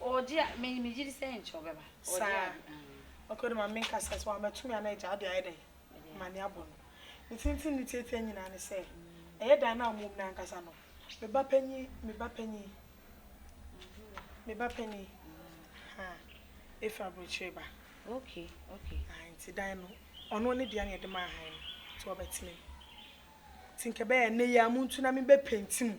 Ɔɔgye a me me gyidi sɛ nkyɛ ɔbɛba ɔɔgye Saa ade aah. ok ɔde ma me nkasa sɛ wamatumi a na agya ɔde ayɛ dɛn Mede ama ne abɔ no ne tenten ne tiatia nyinaa ne sɛ ɛyɛ dan no a ɔmo wɔ mu no ankasa no me ba panyin me ba panyin me ba panyin ahaa efi abrokyire ba ok ok. ae nti dan no ɔno ne dea na yɛde maa han no nti ɔbɛtena mu nti nka ɛbɛyɛ ɛnɛ yi a montu na me bɛ penti mu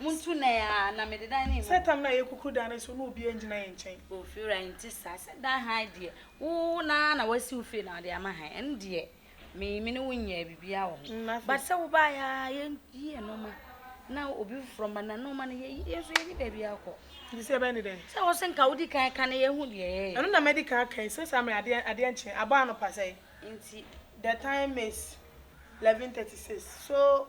Montu nan aa na mede dan no mmu. Sɛ tam no ayɛ kuku dan no so na obiara ngyina yɛn nkyɛn. Oh Fiora ɛnte saa, sɛ dan hann deɛ wo no ara na wasi wo fie na wode ama hann ɛno deɛ me me ne wo nyɛɛ biribiara wɔ ho. But sɛ wo baeɛ aa yɛnyi yɛn nnoɔma na obi foforɔ mma na nnoɔma no yɛyi yɛn nso yɛnni baabi akɔ. Nti sɛ yɛbɛyɛ ne dɛn? Sɛ wo se nka wodi kan ka na yɛahu deɛ yɛyɛ. Ɛno na mɛdi kan aka yi, sɛ saa mmerɛ adeɛ adeɛ nkye, abɔ anɔpa sɛn? Nti. The time is 11:36 so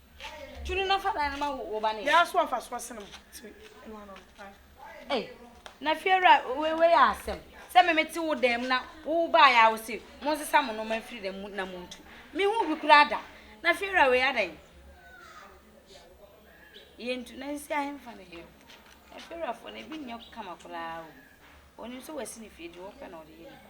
Tunu na fa dan no ma wo ba ne. Yɛ aso afa so asene mo ti no ano no. Ei na fiewura wei wei yɛ asɛm sɛ me mete wo dan mu na wo baa yɛ a wo se mo nsesa mo noma mfiri dan mu na mo ntu me ho bi koraa da na fiewura wei adan yɛ ntu na nsi ahemfa ne yɛ na fiewurafoɔ na ebi nyɛ kama koraa o onim sɛ wasi ne fie deɛ ɔpɛ na ɔde yɛ nipa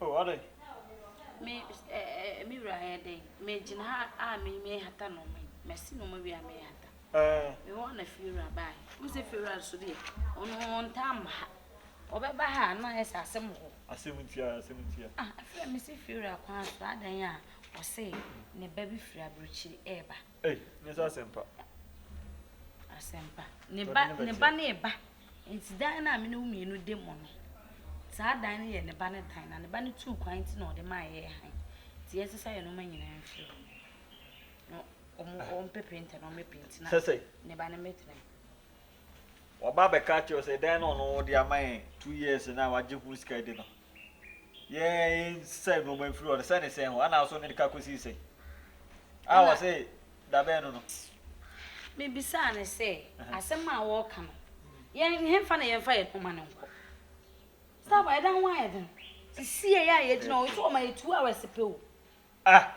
Oh, ade. Me, eh, eh, me wura ayɛ dɛn? Megyina ha a me mehata nneɛma yi. Masi nneɛma wie a mehata. Eh. Me hɔ na fiewura baa. Wo sɛ fiewura nso deɛ, ɔno ɔntaa mma ha. Ɔbɛba ha a na ayɛ sɛ asɛm wɔ hɔ. Asɛm ntia, asɛm ntia. Ah, afei a mesi fiewura kwan so adan a, ɔse ne ba bi firi aburokyiri ɛreba. Ei, nyɛ sɛ asɛmpa. Asɛmpa. Ne ba, ne ba ne ba. Nti dan no a me ne wo mmienu de mo no, saa dan no yɛ ne ba ne dan, na ne ba no tuu kwan nti na ɔde maa yɛɛ hann. Nti yɛn sesa yɛn nnoɔma nyinaa mfiri hɔ. Na ɔmo, ah. ɔmo pɛ penta na ɔmo penti na. Sɛsɛ. Ne ba no mɛtena mu. Waba abɛka akyerɛ sɛ dan no ɔno ɔde ama yɛn two years na wagye ho sika di no. yɛsɛe nnoɔma mfiri hɔ no, sɛ ne sɛe ho, ana so ne de ka kɔsii sɛn? A Ɛna- ɔse, Da bɛn no no? Mebisaa no sɛ, Asɛm a woreka no, yɛn hefa na yɛmfa yɛn ho ma no nkɔ? Saba, ɛda ho ayɛ den. Sisiei a yɛgyina hɔ yi, so ɔma yɛ two hours pɛ o. Ah!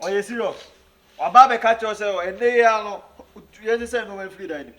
Ɔyɛ serious. Waba abɛka kyerɛ wo sɛ, ɛnnɛ yi ara no, yɛnsesɛe nnoɔma mfiri dan no mu.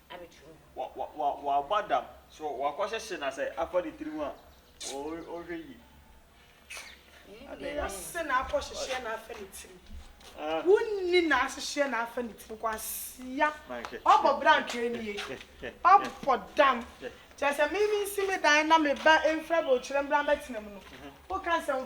W'aba dam so w'akɔ hyehye na sɛ afa ne tiri ho a o hwɛ yie. Nni no se na akɔ hyehyeɛ na afa ne tiri wo nni na ahyehyeɛ na afa ne tiri kwasia w'abɔ bra ntwɛɛ nie w'abɔ dam kyɛɛ sɛ me me nsi me dan na me ba mfra bɛ okyerɛ mbra mbɛ tena mu no wo ka nsɛm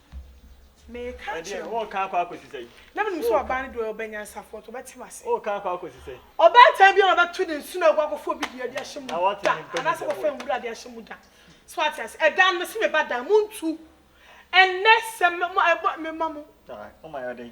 Meka Ɛdeɛ kyerɛ wo. wɔn kan akɔ akɔsi sɛn? Na menim sɛ ɔbaa no deɛ ɔyɛ ɔbanyansafoɔ nti ɔbɛte m'ase. Wɔn kan akɔ akɔsi sɛn? Ɔbaatan biara a ɔbɛto ne nsono agu akɔfa obi dua de ahyɛ mu Na wate da ne mpɛ mu anaasɛ nsɛm akɔfa wɔ. nwura de ahyɛ mu da. So wate ase? Ɛda no mese me ba dan mu ntu. Ɛnnɛ sɛ me mo ɛbɔ mema mo. Alright, moma yɛ ɔdɛn?